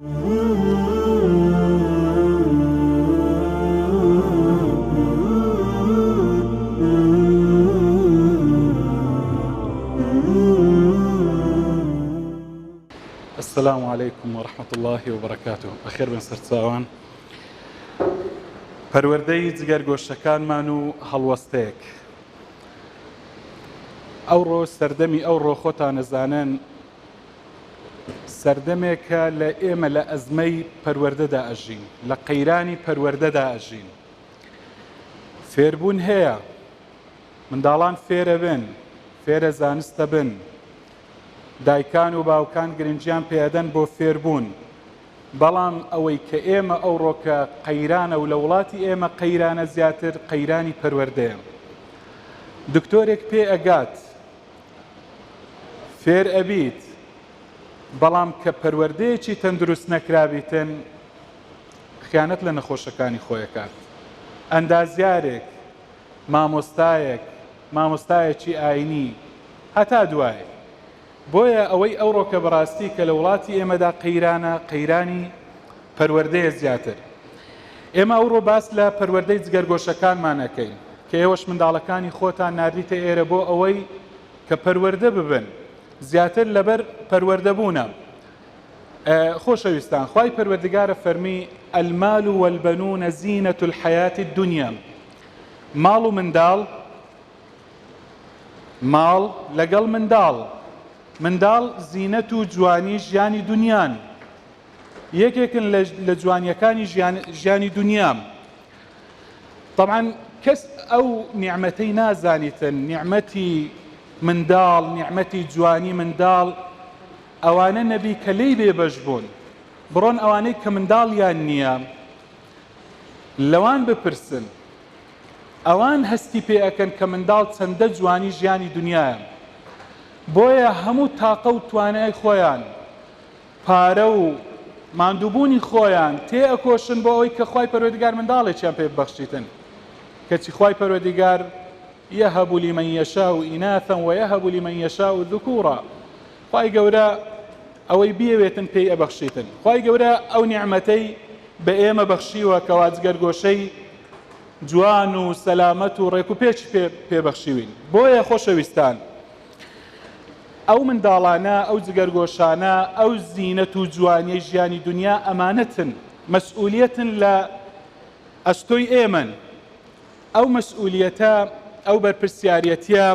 السلام علیکم و رحمت الله و برکاته بەخێر بن سەرچاوان پەروەردەی جگەر گۆشەکانمان و هەڵوەستەیەک ئەوڕۆ سەردەمی ئەوڕۆ خۆتان نەزانن سەردەمێکە لە ئێمە لە ئەزمەی پەروەردەدا ئەژین، لە قەیرانی پەروەردەدا ئەژین. فێربوون هەیە، منداڵان فێرەبن، فێرە زانستەبن، دایکان و باوکان گرنگیان پێ ئەدەن بۆ فێربوون، بەڵام ئەوەی کە ئێمە ئەوڕۆکە قەیرانە و لە وڵاتی ئێمە قەیرانە زیاتر قەیرانی پەروەردەیە. دکتۆرێک پێ ئەگات، فێر ئەبیت بەڵام کە پەروەردەیەکی تەندروست نەکرابیتن خیانەت لە نەخۆشەکانی خۆی ئەکات ئەندازیارێک مامۆستایەک مامۆستایەکی ئاینی هەتا دوایی بۆیە ئەوەی ئەوڕۆکە بەڕاستی کە لە وڵاتی ئێمەدا قەیرانە قەیرانی پەروەردەیە زیاتر. ئێمە ئەوڕۆ باس لە پەروەردەی جگەرگۆشەکانمان ئەکەین، کە ئێوەش منداڵەکانی خۆتان ناردیتە ئێرە بۆ ئەوەی کە پەروەردە ببن، زیاتر لەبەر پەروەردە بوونە. خۆشەویستان، خوای پەروەردگارە فەرمی، المال و البنون زینە الحیاة الدنیا، ماڵ و منداڵ، ماڵ لەگەڵ منداڵ، منداڵ زینەت و جوانی ژیانی دونیان، یەکێکن لە جوانیەکانی ژیانی دنیام طبعاً کەس ئەو نیعمەتەی نازانیتن نیعمەتی منداڵ نیعمەتی جوانی منداڵ ئەوانە نەبی کە لی بێبەش بوون بڕۆن ئەوانەی کە منداڵیان نییە لەوان بپرسن ئەوان هەستی پێ ئەکەن کە منداڵ چەندە جوانی ژیانی دنیاە بۆیە هەموو تاقە و توانای خۆیان پارە و ماندووبوونی خۆیان تێ ئەکۆشن بۆ ئەوەی کە خوای پەروەردیگار منداڵێکیان پێ ببەخشیتن کەچی خوای پەروەردیگار یەهەب لمن یشاء اناثا ویهب لمن یشاء ذکورا خوای گەورە ئەوەی بیەوێتن پێی ئەبەخشیتن خوای گەورە ئەو نیعمەتەی بە ئێمە بەخشیوە کەوا جگەرگۆشەی جوان و سەلامەت و ڕێک و پێچ پێ پێبەخشیوین بۆیە خۆشەویستان ئەو منداڵانە، ئەو جگەرگۆشانە، ئەو زینەت و جوانیەی ژیانی دونیا ئەمانەتن، مەسئولیەتن لە ئەستۆی ئێمەن، ئەو مەسئولیەتە، ئەو بەرپرسیاریەتیە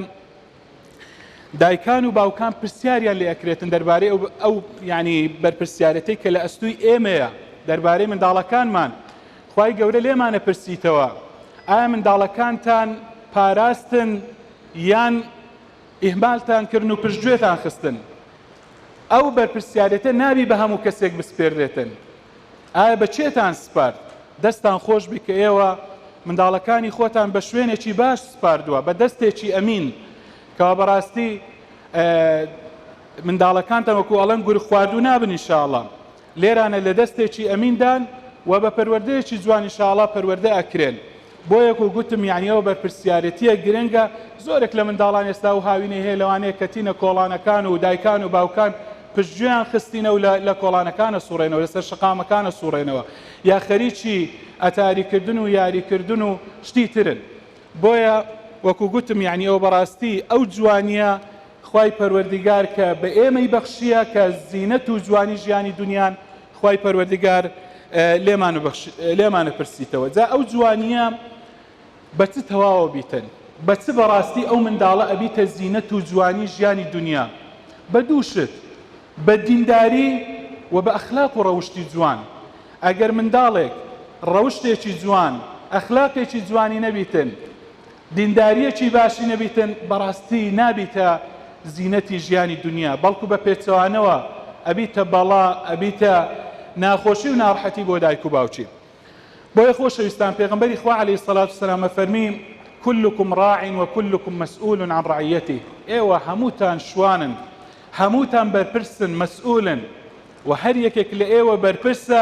دایکان و باوکان پرسیاریان لێ ئەکرێتن دەربارەی ئەو ئەو یانی بەرپرسیارەتەی کە لە ئەستوی ئێمەیە دەربارەی منداڵەکانمان خوای گەورە لێمانە پرسیتەوە ئایا منداڵەکانتان پاراستن یان ئیهمالتان کردن و پشت گوێتان خستن، ئەو بەرپرسیارێتە نابی بە هەموو کەسێک بسپێردرێتن، ئایا بە کێتان سپارد؟ دەستان خۆش بی کە ئێوە منداڵەکانی خۆتان بە شوێنێکی باش سپاردوە، بە دەستێکی ئەمین، کەوا بە ڕاستی منداڵەکانتان وەکو ئەڵێن گورگ خواردوو نابن ان شاء اللە، لێرانە لە دەستێکی ئەمین دان و بە پەروەردەیەکی جوان ان شاء اللە پەروەردە ئەکرێن بۆیە کو گوتم یانی ئەوە بەرپرسیارەتیە گرنگە زۆرێک لە منداڵان ئێستا ئەو هاوینەی هەیە لەوانەیە کەتینە کۆڵانەکان و دایکان و باوکان پشتگوێیان خستینە و لە لە کۆڵانەکانە سوڕێنەوە لەسەر شەقامەکانە سوڕێنەوە یا خەریکی ئەتاری کردن و یاری کردن و شتی ترن بۆیە وەکو گوتم یانی ئەوە بەڕاستی ئەو جوانیە خوای پەروەردیگار کە بە ئێمەی بەخشییە کە زینەت و جوانی ژیانی دونیان خوای پەروەردیگار لێمان بەخش لێمانە پرسیتەوە جا ئەو جوانییە بە چ تەواوە بیتن بە چ بەڕاستی ئەو منداڵە ئەبیتە زینەت و جوانی ژیانی دونیا بە دوو شت بە دینداری و بە ئەخلاق و ڕەوشتی جوان ئەگەر منداڵێک ڕەوشتێکی جوان ئەخلاقێکی جوانی نەبیتن دینداریەکی باشی نەبیتن بەڕاستی نابیتە زینەتی ژیانی دونیا بەڵکو بە پێچەوانەوە ئەبیتە بەڵا ئەبیتە ناخۆشی و ناڕحەتی بۆ دایک و باوکی بۆیە خۆشەویستان پێغەمبەری خوا علیە سەلات و سەلام ئەفەرمی کلکم ڕاع و کلکم مسئول عن ڕعیەتی ئێوە هەمووتان شوانن هەمووتان بەرپرسن مسئولن و هەر یەکێک لە ئێوە بەرپرسە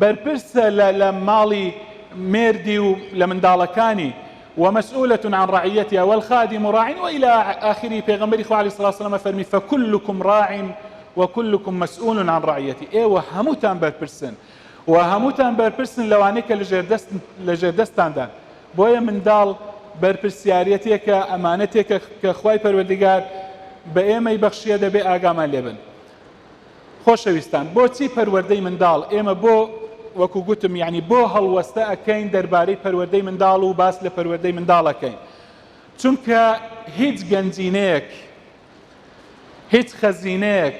بەرپرسە لە لە ماڵی مێردی و لە منداڵەکانی، و مسئولە عن رعیتها، والخادم راع و الی آخره، پێغەمبەری خوا علیە الصلوة والسلام فەرمی، فکلکم راع و کلکم مسئول عن رعیته، ئێوە هەمووتان بەرپرسن و هەمووتان بەرپرسن لەوانەی کە لەژێردەستن لەژێردەستتاندان، بۆیە منداڵ بەرپرسیارێتێکە ئەمانەتێکە کە خوای پەروەردگار بە ئێمەی بەخشیە دەبێ ئاگامان لێبن. خۆشەویستان بۆچی پەروەردەی منداڵ ئێمە بۆ وەکو گوتم یانی بۆ هەڵوەستە ئەکەین دەربارەی پەروەردەی منداڵ و باس لە پەروەردەی منداڵ ئەکەین چونکە هیچ گەنجینەیەک هیچ خەزینەیەک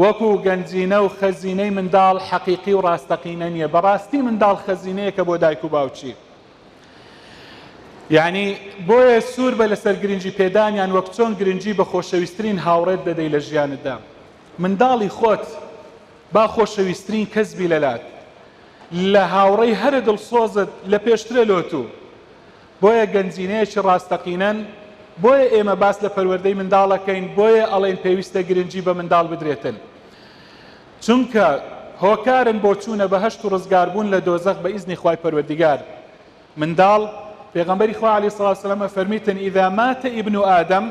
وەکو گەنجینە و خەزینەی منداڵ حەقیقی و ڕاستەقینە نییە بەڕاستی منداڵ خەزینەیەکە بۆ دایک و باوکی یانی بۆیە سوور بە لەسەر گرنگی پێدانیان وەک چۆن گرنگی بە خۆشەویسترین هاوڕێت دەدەی لە ژیانتدا منداڵی خۆت با خۆشەویسترین کەس بی لەلات لە هاوڕێی هەرە دڵسۆزت لە پێشترە لۆت و بۆیە گەنجینەیەکی ڕاستەقینەن بۆیە ئێمە باس لە پەروەردەی منداڵەکەین بۆیە ئەڵێن پێویستە گرنگی بە منداڵ بدرێتن چونکە هۆکارن بۆ چوونە بەهەشت و ڕزگاربوون لە دۆزەخ بە ئیزنی خوای پەروەردیگار، منداڵ، پێغەمبەری خوا علیە الصلوة والسلام ئەفەرمیتن، اذا مات ابن آدم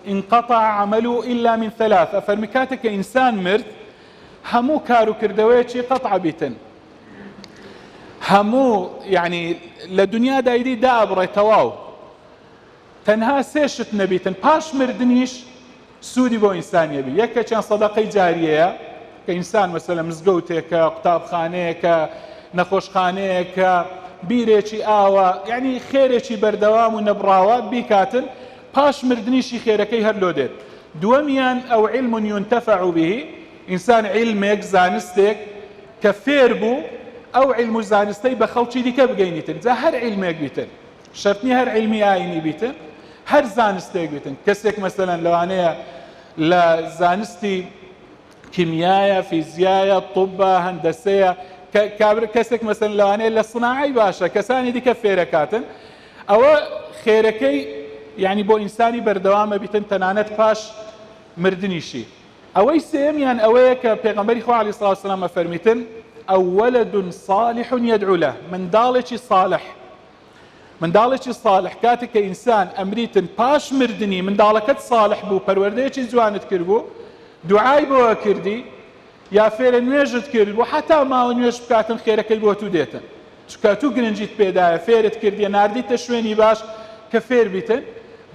انقطع عمله الا من ثلاث، ئەفەرمی کاتێک کە ئینسان مرد هەموو کار و کردەوەیەکی قطع ئەبیتن، هەموو یەعنی لە دنیادا ئیدی دائەبڕێ تەواو. تەنها سێ شت نەبیتن پاش مردنیش سوودی بۆ ئینسان یەبی یەکێکیان سەدەقەی جاریەیە کە ئینسان مەسەلەن مزگەوتێکە قوتابخانەیەکە نەخۆشخانەیەکە بیرێکی ئاوە یعنی خێرێکی بەردەوام و نەبڕاوە بیکاتن پاش مردنیشی خێرەکەی هەر لۆ دێت دووەمیان ئەو علم ينتفع به ئینسان علمێک زانستێک کە فێر بوو ئەو علم و زانستەی بە خەڵکی دیکە بگەینیتن جا هەر علمێک بیتن شەرت نییە هەر عیلمی ئایینی بیتن، هەر زانستێک بیتن. کەسێک مەسەلەن لەوانەیە لە زانستی کیمیایە، فیزیایە، طبە، هەندەسەیە، کابر کەسێک مەسەن لەوانەیە لە سناعی باشە، کەسانی دیکە فێرەکاتن. ئەوە خێرەکەی یعنی بۆ ئینسانی بەردەوامە بیتن تەنانەت پاش مردنیشی. ئەوەی سێمیان ئەوەیە کە پێغەمبەری خوا علیه الصلاة والسلام فەرمیتن ئەولد صالح يدعو له منداڵێکی صالح منداڵێکی ساڵح کاتێک کە ئینسان ئەمریتن پاش مردنی منداڵەکەت ساڵح بوو پەروەردەیەکی جوانت کردبوو دوعای بۆە کردی یا فێرە نوێژت کرد بۆ حتا ماوە نوێژ بکاتن خێرەکەی بۆ تو دێتن چکە تو گرنجیت پێدایە فێرت کردی نردیتە شوێنی باش کە فێر بیتن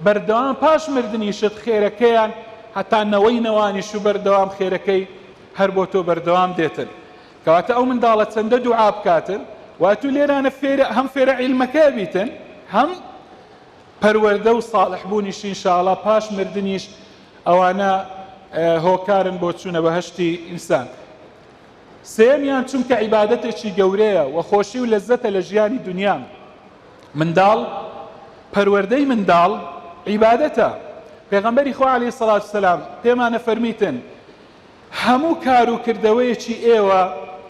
بەردەوام پاش مردنیشت خێرەکەیان هەتا نەوەی نەوانیش و بەردەوام خێرەکەی هەر بۆ تۆ بەردەوام دێتن کەواتە ئەو منداڵە چەندە دوعا بکاتن وە تو لێرانە فێرە هەم فێرە عیلمەکە بیتن هەم پەروەردە و ساڵح بوونیش انشاءاللە پاش مردنیش ئەوانە هۆکارن بۆ چوونە بەهشتی ئینسان سێمیان چونکە عیبادەتێکی گەورەیە و خۆشی و لەزەتە لە ژیانی دنیا منداڵ پەروەردەی منداڵ عیبادەتە پێغەمبەری خوا عليه سڵات سلام پێمانە فەرمیتن هەموو کار و کردەوەیەکی ئێوە،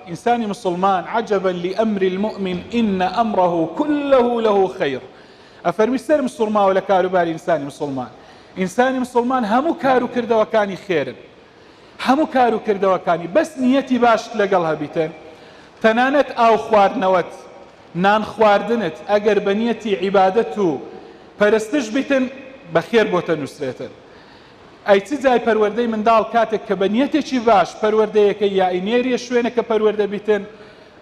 ئینسانی موسڵمان، عجبا لامر المومن ان امره کله له خیر، ئەفەرمی سەرم سوڕماوە لە کاروباری ئینسانی موسڵمان، ئینسانی موسڵمان هەموو کار و کردەوەکانی خێرن، هەموو کار و کردەوەکانی، بەس نیەتی باشت لەگەڵ هەبیتە، تەنانەت ئاو خواردنەوەت، نان خواردنت، ئەگەر بە نیەتی عیبادەت و پەرستش بیتن، بە خێر بۆتە نووسرێتن. ئەی چ جای پەروەردەی منداڵ کاتێک کە بە نیەتێکی باش پەروەردەیەکەی یائی نێریە شوێنەکە پەروەردە بیتن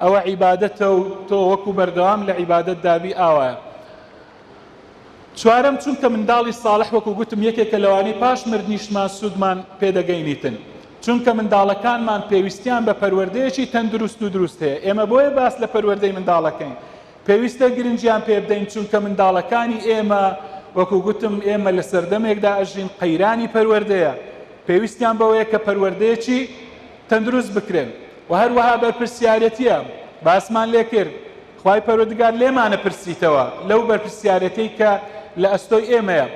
ئەوە عیبادەتە و تۆ وەکو بەردەوام لە عیبادەت دابی ئاوایە چوارەم چونکە منداڵی ساڵح وەکو گوتم یەکێکە لەوانەی پاش مردنیشمان سوودمان پێدەگەینیتن چونکە منداڵەکانمان پێویستیان بە پەروەردەیەکی تەندروست و دروست هەیە ئێمە بۆیە باس لە پەروەردەی منداڵەکەین پێویستە گرنگیان پێ بدەین، چونکە منداڵەکانی ئێمە، وەکو گوتم ئێمە لە سەردەمێکدا ئەژین قەیرانی پەروەردەیە، پێویستیان بەوەیە کە پەروەردەیەکی تەندروست بکرێن و هەروەها بەرپرسیارێتییە باسمان لێ کرد، خوای پەروەردگار لێمانە پرسیتەوە لەو بەرپرسیارێتیەی کە لە ئەستۆی ئێمەیە.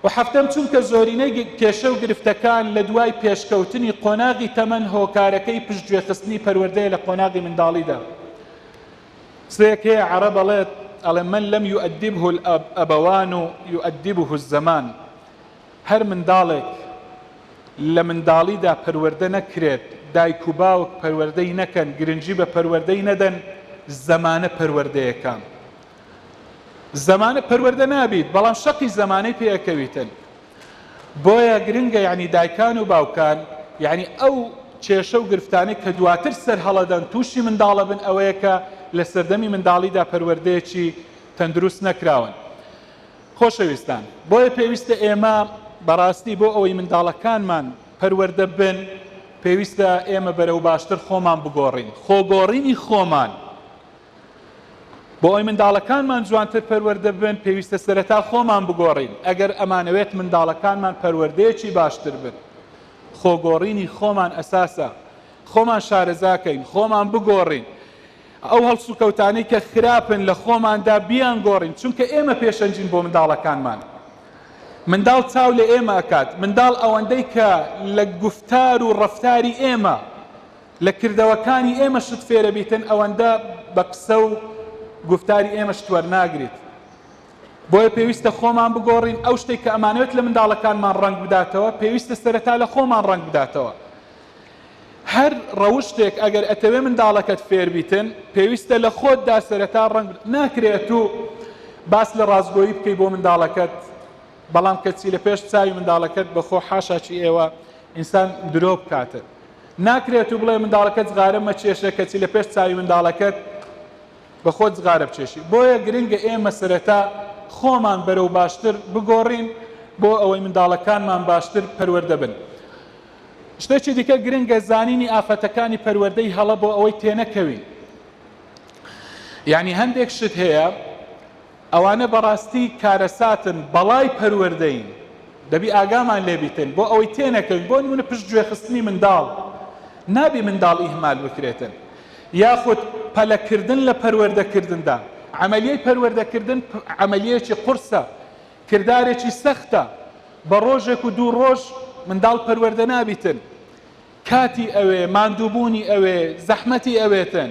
و هەفتەم، چونکە زۆرینەی کێشە و گرفتەکان لە دوای پێشکەوتنی قۆناغی تەمەن هۆکارەکەی پشتگوێخستنی پەروەردەیە لە قۆناغی منداڵیدا. قسەیەک هەیە عەڕەب ئەڵێت ئەڵێ من لم یوئەدیبه الابوان یوئەدیبه الزمان هەر منداڵێک لە منداڵیدا پەروەردە نەکرێت دایک و باوک پەروەردەی نەکەن گرنگی بە پەروەردەی نەدەن زەمانە پەروەردەیەکە زەمانە پەروەردە نابیت بەڵام شەقی زەمانەی پێ ئەکەویتن بۆیە گرنگە یەعنی دایکان و باوکان یەعنی ئەو کێشە و گرفتانەی کە دواتر سەر هەڵەدەن تووشی منداڵەبن ئەوەیە کە لە سەردەمی منداڵیدا پەروەردەیەکی تەندروست نەکراون خۆشەویستان بۆیە پێویستە ئێمە بەڕاستی بۆ ئەوەی منداڵەکانمان پەروەردە بن پێویستە ئێمە بەرەو باشتر خۆمان بگۆڕین خۆگۆڕینی خۆمان بۆ ئەوەی منداڵەکانمان جوانتر پەروەردە ببن، پێویستە سەرەتا خۆمان بگۆڕین، ئەگەر ئەمانەوێت منداڵەکانمان پەروەردەیەکی باشتر بن، خۆگۆڕینی خۆمان ئەساسە، خۆمان شارەزاکەین، خۆمان بگۆڕین، ئەو هەڵسوکەوتانەی کە خراپن لە خۆماندا بیانگۆڕین، چونکە ئێمە پێشەنگین بۆ منداڵەکانمان، منداڵ چاو لە ئێمە ئەکات، منداڵ ئەوەندەی کە لە گوفتار و ڕەفتاری ئێمە لە کردەوەکانی ئێمە شت فێرەبیتن ئەوەندە بە قسە و گوفتاری ئێمە شت وەرناگریت بۆیە پێویستە خۆمان بگۆڕین ئەو شتێک کە ئەمانەوێت لە منداڵەکانمان ڕەنگ بداتەوە پێویستە سەرەتا لە خۆمان ڕەنگ بداتەوە هەر ڕەوشتێک ئەگەر ئەتەوێ منداڵەکەت فێربیتن پێویستە لە خۆتدا سەرەتا ڕەنگ ناکرێت و باس لە ڕاستگۆیی بکەی بۆ منداڵەکەت بەڵام کەچی لە پێش چاوی منداڵەکەت بەخۆ حاشاچی ئێوە ئینسان درۆ بکاتن ناکرێت و بڵێ منداڵەکەت جغارە مەکێشە کەچی لە پێش چاوی منداڵەکەت بە خۆت جغارە بکێشی بۆیە گرنگە ئێمە سەرەتا خۆمان بەرەو باشتر بگۆڕین بۆ ئەوەی منداڵەکانمان باشتر پەروەردە بن شتێکی دیکە گرنگە زانینی ئافەتەکانی پەروەردەی هەڵە بۆ ئەوەی تێنەکەوین یعنی هەندێک شت هەیە ئەوانە بەڕاستی کارەساتن بەڵای پەروەردەین دەبی ئاگامان لێ بیتن بۆ ئەوەی تێنەکەوین بۆ نمونە پشت گوێ خستنی منداڵ نابی منداڵ ئیهمال بکرێتن یاخود پەلە کردن لە پەروەردە کردندا عملیەی پەروەردە کردن عملیەکی قورسە کردارێکی سەختە بە ڕۆژێک و دوو ڕۆژ منداڵ پەروەردە نابیتن کاتی ئەوێ، ماندووبوونی ئەوێ، زەحمەتی ئەوێتن.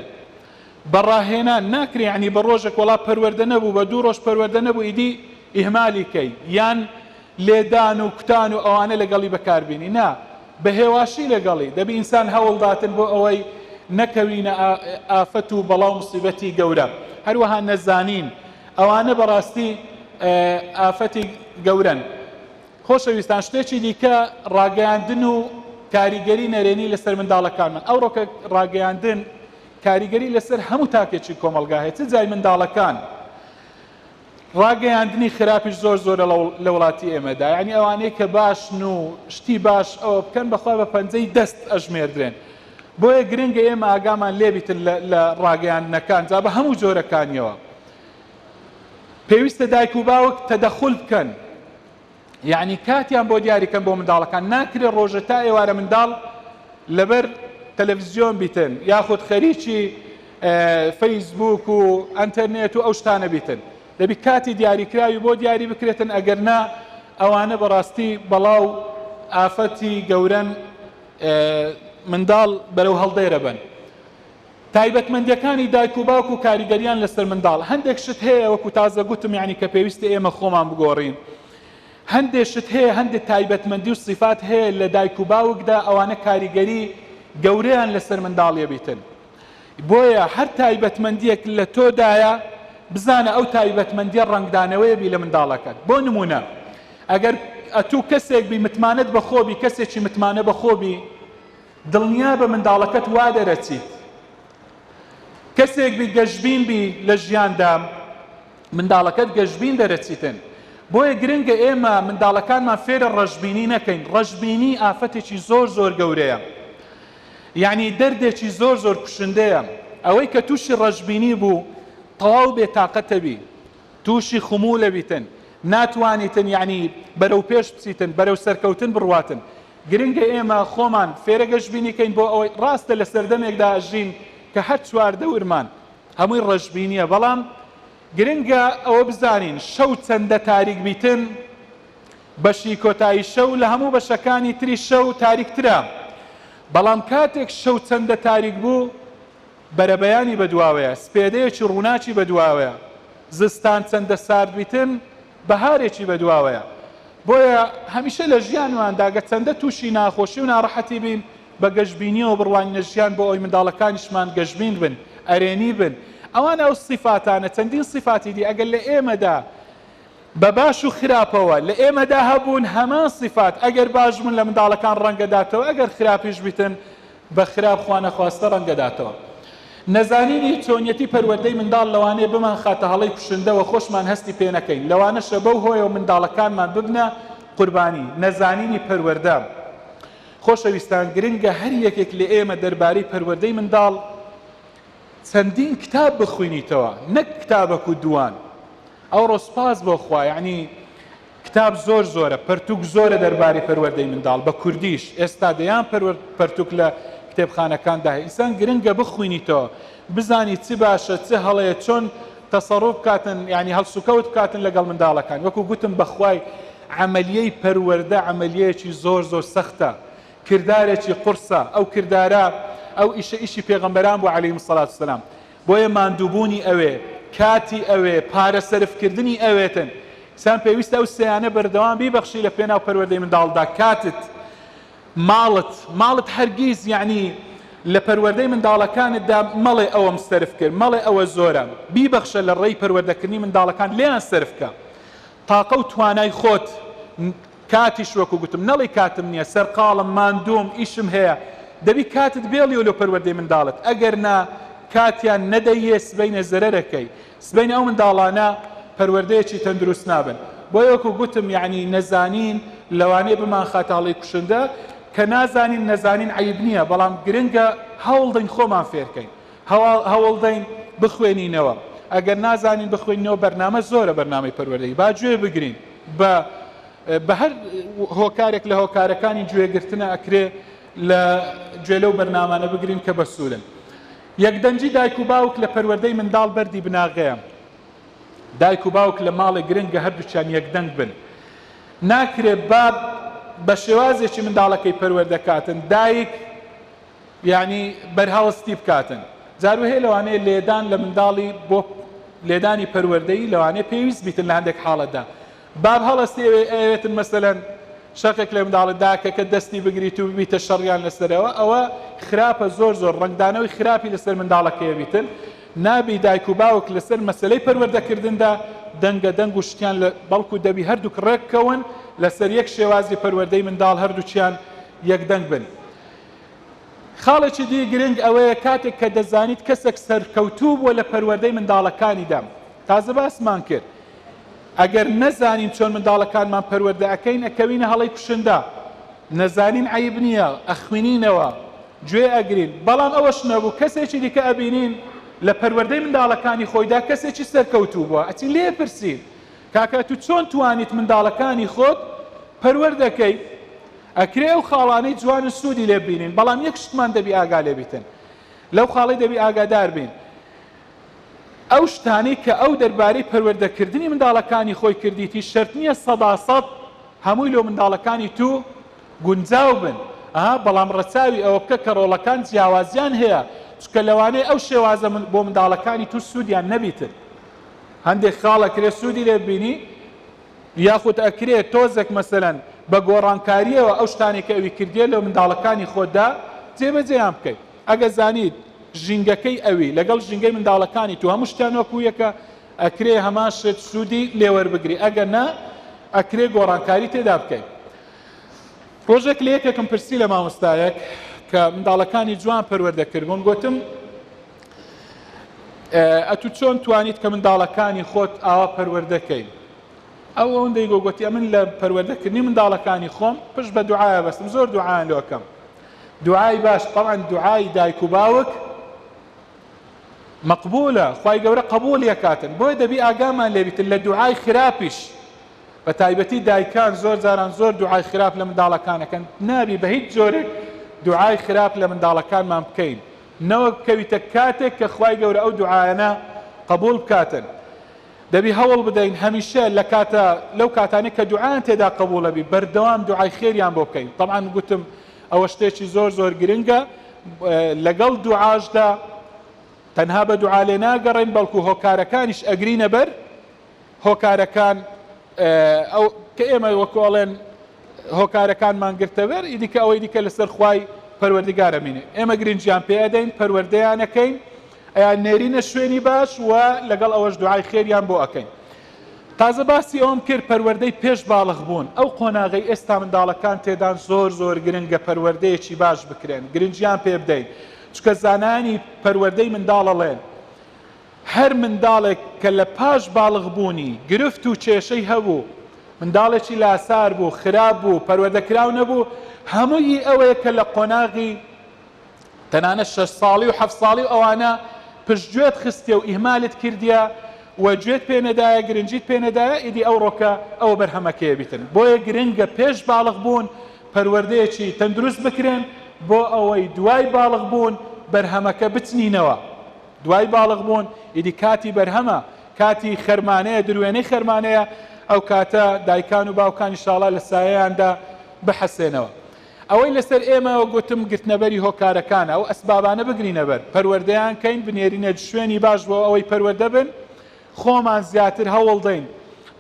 بە ڕاهێنان ناکرێ یەعنی بە ڕۆژێک وەڵا پەروەردە نەبوو، بە دوو ڕۆژ پەروەردە نەبوو ئیدی ئیهمالی کەی، یان لێدان و کوتان و ئەوانە لەگەڵی بەکار بینی، نا، بە هێواشی لەگەڵی، دەبی ئینسان هەوڵ داتن بۆ ئەوەی نەکەوینە ئافەت و بەڵا و موسیبەتی گەورە. هەروەها نەزانین. ئەوانە بەڕاستی ئافەتی گەورەن. خۆشەویستان شتێکی دیکە ڕاگەیاندن و کاریگەری نەرێنی لەسەر منداڵەکانمان، ئەوڕۆکە ڕاگەیاندن کاریگەری لەسەر هەموو تاکێکی کۆمەڵگا هەیە چ جای منداڵەکان ڕاگەیاندنی خراپیش زۆر زۆرە لە وڵاتی ئێمەدا یعنی ئەوانەی کە باشن و شتی باش ئەوە بکەن بەخوا بە پەنجەی دەست ئەژمێردرێن بۆیە گرنگە ئێمە ئاگامان لێبیتن لە ڕاگەیاندنەکان جا بە هەموو جۆرەکانیەوە پێویستە دایک و باوک تەدەخول بکەن یعنی کاتیان بۆ دیاری کەن بۆ منداڵەکان ناکرێت ڕۆژە تا ئێوارە منداڵ لەبەر تەلەڤزیۆن بیتن یاخود خەریکی فەیسبوک و ئەتەرنێت و ئەو شتانە بیتن دەبی کاتی دیاریکراوی بۆ دیاری بکرێتن ئەگەر نا ئەوانە بەڕاستی بەڵاو ئافەتی گەورەن منداڵ بەرەو هەڵدێرە بن تایبەتمەندیەکانی دایک و باوک و کاریگەریان لەسەر منداڵ هەندێک شت هەیە وەکو تازە گوتم یانی کە پێویستە ئێمە خۆمان بگۆڕین هەندێ شت هەیە هەندێ تایبەتمەندی و سیفات هەیە لە دایک و باوکدا ئەوانە کاریگەری گەورەیان لەسەر منداڵیە بیتن بۆیە هەر تایبەتمەندیەک لە تۆدایە بزانە ئەو تایبەتمەندیە ڕەنگدانەوەی بی لە منداڵەکەت بۆ نمونە ئەگەر ئەتوو کەسێک بی متمانەت بەخۆبی کەسێکی متمانە بەخۆبی دڵنیابە منداڵەکەت وا دەرەچیت کەسێک بیت گەشبین بی لە ژیاندا منداڵەکەت گەشبین دەرەچیتن بۆیە گرنگە ئێمە منداڵەکانمان فێرە ڕەشبینی نەکەین ڕەشبینی ئافەتێکی زۆر زۆر گەورەیە یعنی دەردێکی زۆر زۆر کوشندەیە ئەوەی کە تووشی ڕەشبینی بوو تەواو بێتاقەتەبی تووشی خموولە بیتن، ناتوانیتن یانی بەرەو پێش بچیتن، بەرەو سەرکەوتن بڕواتن. گرنگە ئێمە خۆمان فێرە گەشبینی کەین بۆ ئەوەی، ڕاستە لە سەردەمێکدا ئەژین کە هەر چواردەورمان هەمووی ڕەشبینییە، بەڵام گرنگە ئەوە بزانین شەو چەندە تاریک بیتن، بەشی کۆتایی شەو لە هەموو بەشەکانی تری شەو تاریکترە، بەڵام کاتێک شەو چەندە تاریک بوو، بەرەبەیانی بەدواوەیە، سپێدەیەکی ڕووناکی بەدواوەیە، زستان چەندە ساردبیتن، بەهارێکی بەدواوەیە. بۆیە هەمیشە لە ژیانماندا گەچەندە تووشی ناخۆشی و ناڕەحەتی بین، بە گەشبینییەوە بڕوانینە ژیان بۆ ئەوەی منداڵەکانیشمان گەشبین بن، ئەرێنی بن. ئەوان ئەو سیفاتانە، چەندین سیفاتی دی ئەگەر لە ئێمەدا بە باش و خراپەوە لە ئێمەدا هەبوون، هەمان سیفات ئەگەر باش بوون لە منداڵەکان ڕەنگداتەوە، ئەگەر خراپیش بیتن بە خراپ خوانەخواستە ڕەنگدەداتەوە. نەزانینی چۆنیەتی پەروەردەی منداڵ لەوانەیە بمانخاتە هەڵەی کوشندە و خۆشمان هەستی پێنەکەین، لەوانەشە بەو هۆیەوە منداڵەکانمان ببنە قوربانی نەزانینی پەروەردە. خۆشەویستان گرنگە هەر یەکێک لە ئێمە دەربارەی پەروەردەی منداڵ چەندین کتاب بخوینیتەوە نەک کتابەک و دووان. ئەوڕۆ سوپاس بۆ خوا یانی کتاب زۆر زۆرە پەرتوک زۆرە دەرباری پەروەردەی منداڵ بە کوردیش ئێستا دەیان پەرتوک لە کتێبخانەکاندا هەیە ئینسان گرنگە بخوینیتەوە بزانی چ باشە چ هەڵەیە چۆن تەسەڕوف بکاتن یانی هەڵسوکەوت بکاتن لەگەڵ منداڵەکان وەکو گوتم بەخوای عەمەلیەی پەروەردە عەمەلیەیەکی زۆر زۆر سەختە کردارێکی قورسە ئەو کردارە ئەو ئیشە ئیشی پێغەمبەران بوو عەلەیهیمسەڵاتوسەلام بۆیە ماندووبوونی ئەوێ، کاتی ئەوێ، پارە سەرفکردنی ئەوێتن. ئینسان پێویستە ئەو سێیانە بەردەوام بیبەخشی لە پێناو پەروەردەی منداڵدا، کاتت، ماڵت، ماڵت هەرگیز یەعنی لە پەروەردەی منداڵەکانتدا مەڵێ ئەوەم سەرف کرد، مەڵێ ئەوە زۆرە، بیبەخشە لە ڕێی پەروەردەکردنی منداڵەکانت لێیان سەرف بکە. تاقە و توانای خۆت کاتیش وەکو گوتم نەڵی کاتم نیە سەرقاڵم ماندووم ئیشم هەیە دەبی کاتت بێڵیۆ لۆ پەروەردەی منداڵت ئەگەر نا کاتیان نەدەیێ سبەینێ زەرەرەکەی سبەینێ ئەو منداڵانە پەروەردەیەکی تەندروست نابن بۆیە وەکو گوتم یەعنی نەزانین لەوانەیە بمانخاتە هەڵەی کوشندە کە نازانین نەزانین عەیب نیە بەڵام گرنگە هەوڵدەین خۆمان فێرکەین هەوڵدەین بخوێنینەوە ئەگەر نازانین بخوێنینەوە بەرنامە زۆرە بەرنامەی پەروەردەی با گوێ بگرین بە بە هەر هۆکارێک لە هۆکارەکانی گوێگرتنە ئەکرێ لە گوێ لەو بەرنامانە بگرین کە بە سوورن یەکدەنگی دایک و باوک لە پەروەردەی منداڵ بەردی بناغەیە دایک و باوک لە ماڵێک گرنگە هەردووچان یەکدەنگ بن ناکرێ باب بە شێوازێکی منداڵەکەی پەروەردەکاتن دایک یانی بەرهەڵستی بکاتن جار وهەیە لەوانەیە لێدان لە منداڵی بۆ لێدانی پەروەردەیی لەوانەیە پێویست بیتن لە هەندێک حاڵەتدا باب هەڵەستی ئەوێتن مەسەلەن شەقێک لە منداڵە داکەکە دەستی بگریت و ببیتە شەڕیان لەسەرەوە ئەوە خراپە زۆر زۆر ڕنگدانەوەی خراپی لەسەر منداڵەکەی بیتن نابی دایک و باوک لەسەر مەسلەی پەروەردەکردندا دەنگە دەنگ و شتیان لە بەڵکو دەبی هەردووک ڕێککەون لەسەر یەک شێوازی پەروەردەی منداڵ هەردووچیان یەکدەنگ بن خاڵێکی دی گرنگ ئەوەیە کاتێک کە دەزانیت کەسێک سەرکەوتوو بووە لە پەروەردەی منداڵەکانیدا، تازە باسمان کرد ئەگەر نەزانین چۆن منداڵەکانمان پەروەردە ئەکەین ئەکەوینە هەڵەی کوشندە، نەزانین عەیب نییە ئەخوینینەوە، گوێ ئەگرین، بەڵام ئەوەش نەبوو کەسێکی دیکە ئەبینین لە پەروەردەی منداڵەکانی خۆیدا کەسێکی سەرکەوتوو بووە ئەچین لێ ئەپرسین، کاکە تو چۆن توانیت منداڵەکانی خۆت پەروەردە کەی ئەکرێ ئەو خاڵانەی جوانن سودی لێ ببینین بەڵام یەک شتمان دەبی ئاگا لێ بیتن لەو خاڵەی دەبی ئاگادار بین ئەو شتانەی کە ئەو دەربارەی پەروەردەکردنی منداڵەکانی خۆی کردیتی شەرت نییە سەدا سەد هەمووی لۆ منداڵەکانی تو گونجاو بن ئەها بەڵام ڕەچاوی ئەوە بکە کە ڕۆڵەکان جیاوازیان هەیە چکە لەوانەیە ئەو شێوازە بۆ منداڵەکانی تو سوودیان نەبیتن هەندێک خاڵ ئەکرێ سوودی لێت بینی یاخود ئەکرێ تۆزێک مەسەلەن بە گۆڕانکارییەوە ئەو شتانەی کە ئەوی کردیە لە منداڵەکانی خۆتدا جێبەجێیان بکەی ئەگە زانیت ژینگەکەی ئەوی لەگەڵ ژینگەی منداڵەکانی تو هەموو شتیان وەکو یەکە ئەکرێ هەمان شت سوودی لێوەربگری ئەگەر نا ئەکرێ گۆڕانکاری تێدا بکەیت ڕۆژێک لە یەکێکم پرسی لە مامۆستایەک کە منداڵەکانی جوان پەروەردە کردبوون گوتم ئەتو چۆن توانیت کە منداڵەکانی خۆت ئاوا پەروەردەکەی ئەو ئەوەندەی گۆگوتی ئەمن لە پەروەردەکردنی منداڵەکانی خۆم پشت بە دوعاە بەستم زۆر دوعاان لۆکەم دوعای باش طبعا دوعای دایک و باوک مەقبولە خی گەورە قبول یەکاتن بۆی دەبی ئاگامان لێبیتن لە دوعای خراپیش بە تایبەتی دایکان زۆر جاران زۆر دوعای خراپ لە منداڵەکانەکەن نابی بە هیچ جۆرێک دوعای خراپ لە منداڵەکانمان بکەین نەوەک کەویتە کاتێک کە خوای گەورە ئەو دوعایانە قبوڵ بکاتن دەبی هەوڵ بدەین هەمیشە لە کاتە لەو کاتانەی کە دوعایان تێدا قبوڵە بی بەردەوام دوعای خێریان بۆ بکەین تەبعەن گوتم ئەوە شتێکی زۆر زۆر گرنگە لەگەڵ دوعاشدا تەنها بە دوعا لێ ناگەڕێین بەڵکو هۆکارەکانیش ئەگرینە بەر هۆکارەکان ئەو کە ئێمە وەکو ئەڵێن هۆکارەکانمان گرتەوێر ئیدی کە ئەوەی دیکە لەسەر خوای پەروەردگارە مینێ ئێمە گرنجیان پێ ئەدەین پەروەردەیانەکەین ئەیان نێرینە شوێنی باش و لەگەڵ ئەوەش دوعای خێریان بۆ ئەەکەین تازە باسی ئەوم کرد پەروەردەی پێش باڵغ بوون ئەو قۆناغی ئێستا منداڵەکان تێدان زۆر زۆر گرنگە پەروەردەیەکی باش بکرێن گرنجیان پێ بدەین چکە زانانی پەروەردەی منداڵەڵێن هەر منداڵێک کە لە پاش باڵغ بوونی گرفت و کێشەی هەبوو، منداڵێکی لاسار بوو، خراپ بوو، پەروەردە کراو نەبوو، هەمووی ئەوەیە کە لە قۆناغی تەنانەت شەش ساڵی و حەفت ساڵی و ئەوانە پشت گوێت خستیە و ئیهمالت کردیە و گوێت پێ نەدایە گرنگیت پێ نەدایە ئیدی ئەوڕۆ کە ئەوە بەرهەمەکەیە بیتن بۆیە گرنگە پێش باڵغ بوون پەروەردەیەکی تەندروست بکرێن بۆ ئەوەی دوای باڵغ بوون بەرهەمەکە بچنینەوە. دوای باڵغ بوون ئیدی کاتی بەرهەمە، کاتی خەرمانەیە، دروێنەی خەرمانەیە، ئەو کاتە دایکان و باوکان ئیشاڵا لە سایەیاندا بحەسێنەوە. ئەوەی لەسەر ئێمەیەو گوتم گرتنەبەری هۆکارەکانە، ئەو ئەسبابانە بگرینە بەر، پەروەردەیان کەین، بنێرینە شوێنی باش بۆ ئەوەی پەروەردە بن، خۆمان زیاتر هەوڵدەین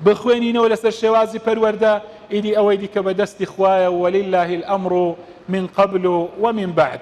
بخوێنینەوە لەسەر شێوازی پەروەردە، ئیدی ئەوەی دیکە بە دەستی خوایە، وللە الامر من قبل ومن بعد.